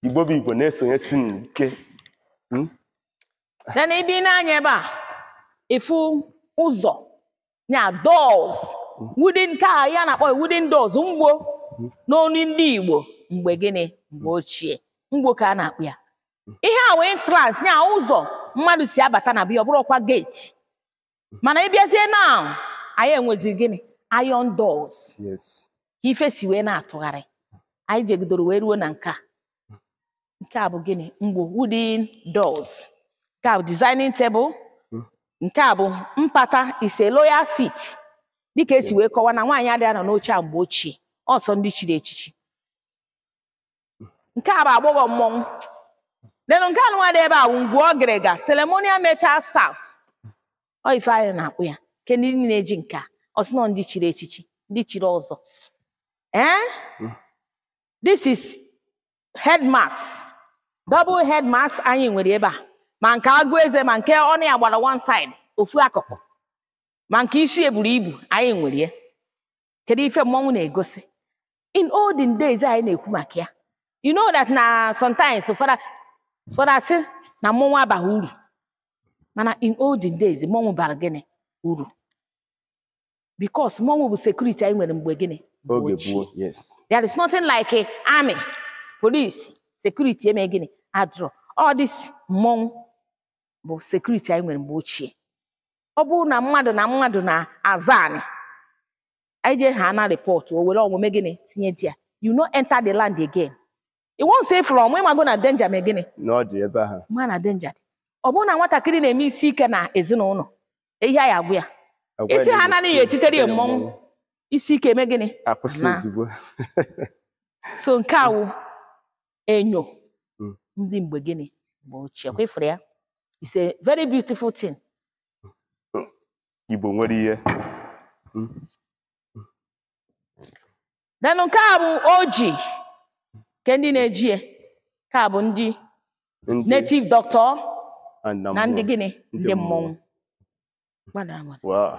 igbo bụ igbo na-esonye si m ike Hmm? then ị bịa nee anya ebe a ị fụ ụzọ ya doors wooden ka a na-akpọ ya wooden doors mgbo n'olu ndị igbo mgbe gịnị mgbe ochie mgbo ka a na-akpọ ya ihe a wụ entrance ya ụzọ mmadụ si abata na be ya ọ bụrụ ọkwa gate mana ị bịazie now anyị enwezi gịnị iron doors yes ka ife si wee na-atụgharị anyị jegidoro wee ruo na nke a nke a bụ gịnị mgbo wooden doors nke a bụ designing table Mm. nke a bụ mpata is a royal seat dịka e si wee kọwa na nwaanyị adịghị anọ n'oche a mgbe ochie ọ sọ ndị chiri echichi nke a bụ agbọghọ mmọnwụ then nke anụnwa dị ebe a bụ ngwu ọgịrịga ceremonial metal staff ọ ife anyị na-akpọ ya kee ndị na-eji nke a ọ sị na ọ ndị chiri echichi ndị chiri ọzọ ee this is head mask double head mask anyị nwere ebe a ma nke agụ eze ma nke ọnụ ya gbara one side ofu akụkụ ma nke isi ya buru ibu anyị nwere ya kedu ife mmọnwụ na-egosi in olden days anyị na-ekwu maka ya you know that na sometimes ụfọdụ ụfọdụ asị na mmọnwụ abaghị uru mana in olden days mmọnwụ bara gịnị uru because mmọnwụ bụ security anyị nwere mgbe gịnị mgbe oge ochie. gboo yes There is nothing like a army, police, security mee gịnị adịrọ. All this mmọnwụ bụ security anyị nwere mgbe ochie. ọ bụrụ na mmadụ na mmadụ na-azọ anị anyị jee ha na rịpọtụ o were ọmụ mee gịnị tinye there you no enter the land again once ị fụrụ ọmụ ị mago na danger mee gịnị na ọ dị ebe ahụ ma na danger dị ọ bụrụ na nwatakịrị na-eme isi ike na ezinụlọ ihe anyị agwa ya Agwa Isi ya ha na-esi anaghị etitere ya etitere mmọnwụ. isi ike mee gịnị akwụsị Na. ozugbo so nke a wụ enyo Mm. ndị mgbe gịnị mgbe ochie kwa ị fụrụ ya it's a very beautiful thing igbo nwere ihe then nke a bụ oji kee ndị na-eji ya nke a bụ ndị Ndị- native doctor and na ndị mmụọ. gịnị Ndị ndị mmọnwụ mmọnwụ. Gbada agbada. Wow.